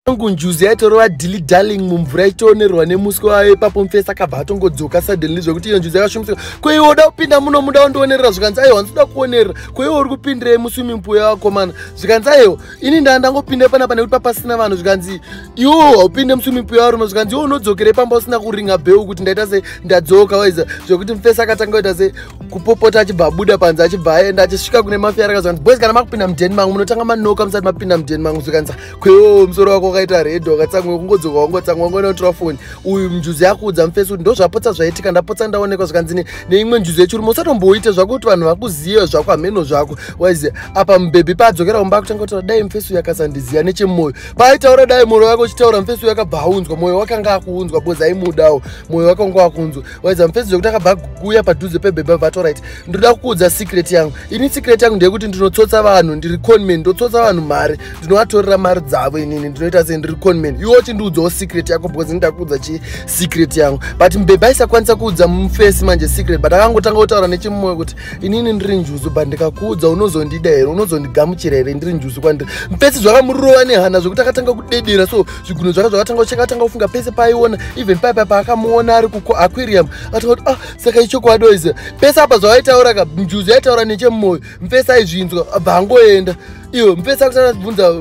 angu njuzi yaitorova dilly darling mumvura ichitoonerwa nemuswe wayo ipapo mufesi akabva atongodzoka suddenly zvekuti iyo njuzi yakashumisira ko iwe uda kupinda muno muda wondionerera zvikanzi aiwa ndinoda kuonerera ko iwe uri kupindirei muswiming pool yavakomana zvikanzi aiwa ini ndaa ndangopinde panapa nekuti papasina vanhu zvikanzi iwo haupinde muswiming pool yavarume zvikanzi iwo unodzokerei pamba usina kuringa bheu kuti ndaita sei ndadzoka waiza zvekuti mufesi akatanga kuita sei kupopota achibva abuda panze achibva aenda achisvika kune mafiyaraka zvikanzi boys kana makupinda mudeni mangu munotanga manoka musati mapinda mudeni mangu zvikanzi kwewo musoro wako wakaita red wakatsamwa kungodzoka wangotsamwa wangona unotora foni uyu njuzi yakuudza mufesi kuti ndozvapotsa zvaitika ndapotsa ndaonekwa zvikanzi neimwe njuzi yechirume usatomboite zvako kuti vanhu vakuziva zvako hameno zvako waiziva apa mubhebhi paadzokera kumba akutanga kutaura dai mufesi uyu akasandiziva nechemoyo paaitaura dai mwoyo wake uchitaura mufesi uyu akabva aunzwa mwoyo wake anga akuunzwa bozi aimudawo mwoyo wake wanga wakunzwa waidza mufenzi zvekuti akabva kuuya padhuze pebhebha vato right ndinoda kukuudza secret yangu ini secret yangu ndeyekuti ndinotsotsa vanhu ndiri conman ndotsotsa vanhu mari ndinovatorera mari dzavo inini ndinoita sei ndiri conman iwo chindiudzawo secret yako because ndida kuudza chi secret yangu but mbhebha aisakwanisa kuudza mufesi manje secret but akangotanga kutaura nechimumwe kuti inini ndiri njuzu but ndikakuudza unozondida here unozondigamuchira here ndiri njuzu kwandiri mufesi zvakamurova nehana zvekuti akatanga kudedera so zvigunwe zvake zvakatanga ucheka atanga kufunga pese paaiona even paye paye paakamuona ari kuaquirium atanga kuti ah saka ichokwadi oiziva pese apa zvaaitaura ka njuzi yaitaura nechemumoyo mfesi aizvinzwa abva angoenda iwe mfesi akutanga achibvunza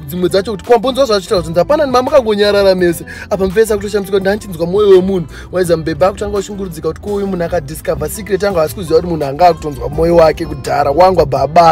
dzimwe dzacho kuti kwambonzwa zvachita kuti ndapana ni mamukangonyarara mese apa mfesi akutoshamisika kuti ndanchinzwa mwoyo wemunhu waiza mubhebha akutanga ushungurudzika kuti kuuyu munhu akadiscover secret anga asi kuziva kuti munhu anga akutonzwa mwoyo wake kudhara wangwa baba